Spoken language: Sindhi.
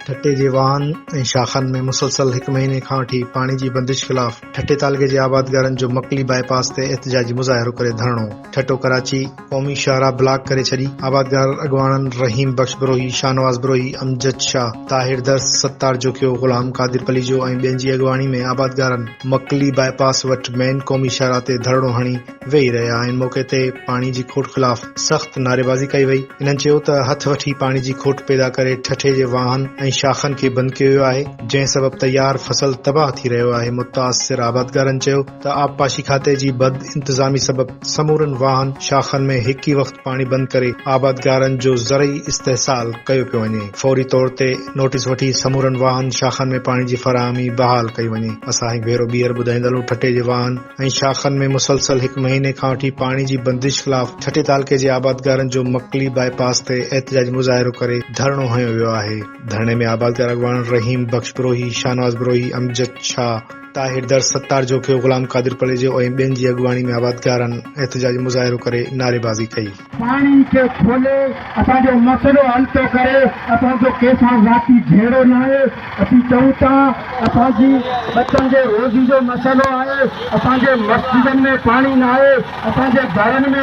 ٺٽي جي واهن ۽ شاخن ۾ مسلسل هڪ مهيني کان وٺي پاڻي جي بندش خلاف ٺٽي تعلقي جي آبادگارن جو مڪلي باء پاس تي احتجاجي مظاهرو ڪري ڌرڻو، ٺٽو-ڪراچي، قومي شاهراهه بلاڪ ڪري ڇڏي، آبادگار اڳواڻن رحيم بخش بروهي، شاهنواز بروهي، امجد شاهه، طاهر درس، ستار جوکيو، غلام قادر پليجو ۽ ٻين جي اڳواڻي ۾ آبادگارن مڪلي باء پاس وٽ مين قومي شاهراهه تي ڌرڻو هڻي ويهي رهيا آهن، موقعي تي پاڻي جي کوٽ خلاف سخت نعريبازي ڪئي وئي، انهن چيو ته هٿ وٺي پاڻي جي کوٽ پيدا ڪري ٺٺي جي واهن ۽ شاخن کي بند ڪيو ويو آهي، جنهن سبب تيار فصل تباهه ٿي رهيو آهي، متاثر آبادگارن چيو. ته آبپاشي کاتي جي بد انتظامي سبب سمورن واهن شاخن ۾ هڪ ئي وقت پاڻي بند ڪري آبادگارن جو زرعي استحصال ڪيو پيو وڃي فوري طور تي نوٽيس وٺي سمورن واهن شاخن ۾ پاڻي جي فراهمي بحال ڪئي وڃي اسان هڪ ڀيرو ٻيهر ٻڌائيندالون ٺٽي جي واهن ۽ شاخن ۾ مسلسل هڪ مهيني کان وٺي پاڻي جي بندش خلاف ٺٽي تعلقي جي آبادگارن جو مڪلي باء پاس تي احتجاجي مظاهرو ڪري ڌرڻو هنيو ويو آهي ڌرڻي ۾ آبادگار اڳواڻ رحيم بخش بروهي شاهنواز بروهي امجد شاهه طاهر درس ستار جوکيو، غلام قادر پليجو ۽ ٻين جي اڳواڻي ۾ آبادگارن احتجاجي مظاهرو ڪري نعريبازي ڪئي. پاڻي کي کولي اسان جو مسئلو حل ٿو ڪري اسان جو ڪنهن سان ذاتي جهيڙو ناهي اسين چئون ٿا اسان جي ٻچن جي روزي جو مسئلو آهي اسان جي مسجدن ۾ پاڻي ناهي اسان جي گهرن ۾